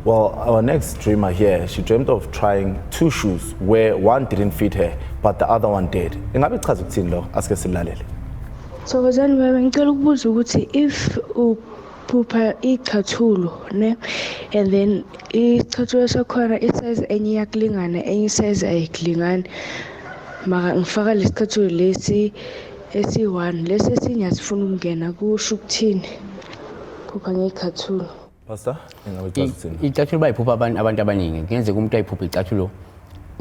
Well, our next dreamer here, she dreamt of trying two shoes where one didn't fit her, but the other one did. Ingabe ichaza ukuthini lo? Asike silalele. Thokozani baba, ngicela ukubuza ukuthi if phupha iy'chathulo ne and then isichathulo sakhona isayizi enye iyakulingana enye isayizi ayikulingani maka ngifaka lesi chathulo lesi esi-one lesi esinye asifuna ukungena kusho ukuthini phupha ngey'chathulo pastor ingaba icathulo icathulo bayiphupha abantu abantu abaningi kuyenzeka umuntu ayiphuphe icathulo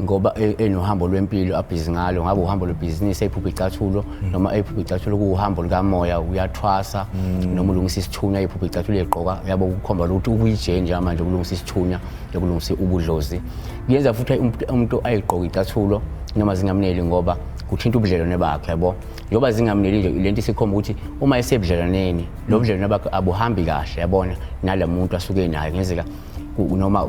ngoba e- enohambo lwempilo abhizi ngalo ngabe uhambo lwebhizinisi eyiphupha icathulo hmm. noma eyiphupha icathulo kuwuhambo lukamoya uyathwasa hmm. noma ulungisa isithunya eyiphupha icathulo egqoka yabo kukhomba lokuthi ukuyijenja manje ukulungisa isithunya yokulungisa ubudlozi kuyenza futhi umuntu ayigqoke icathulo noma zingamneli ngoba kuthinta ubudlelwane bakhe yabo yoba zingamneli nje lento isikhomba ukuthi uma esebudlelwaneni lo budlelwane bakhe abuhambi kahle yabona nalamuntu asuke naye ngenzeka noma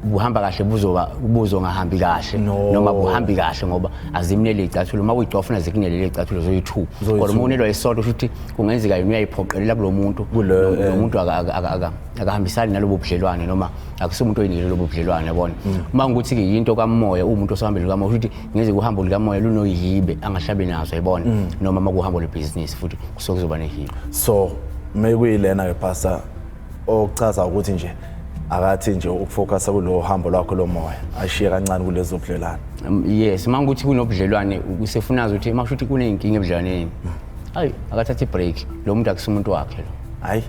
buhamba kahle buzoba buzo ngahambi kahle no. noma buhambi kahle ngoba azimnele icathulo uma uyicofa funa zikunele le icathulo zoyi2 kodwa uma unelwa isodwa futhi kungenzeka yini uyayiphoqelela kulomuntu lomuntu eh. akahambisani nalobo budlelwane noma akusumuntu oyinile lobo budlelwane yabona mm. uma ukuthi ke yinto kamoya umuntu osahambele kamoya futhi ngeze kuhambo likamoya lunoyibe angahlabi nazo yabona mm. noma makuhambo lebusiness futhi kusokuzoba nehibe so mekuyilena ke pastor okuchaza ukuthi nje akathi nje ukufocusa kulo hambo lwakho lomoya ashiye kancane kulezo budlelwane Um, yes uma ukuthi kunobudlelwane kusefunaza ukuthi uma kusho ukuthi kuney'nkinga ebudlelwaneni hayi akathathe i-break lo muntu akusi umuntu wakhe lo hayi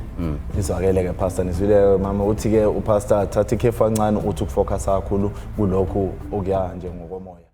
izwakele ke pastor nizwile mama uthi ke upastor thatha ikhefu kancane uthi ukufocusa kakhulu kulokhu okuya nje ngokomoya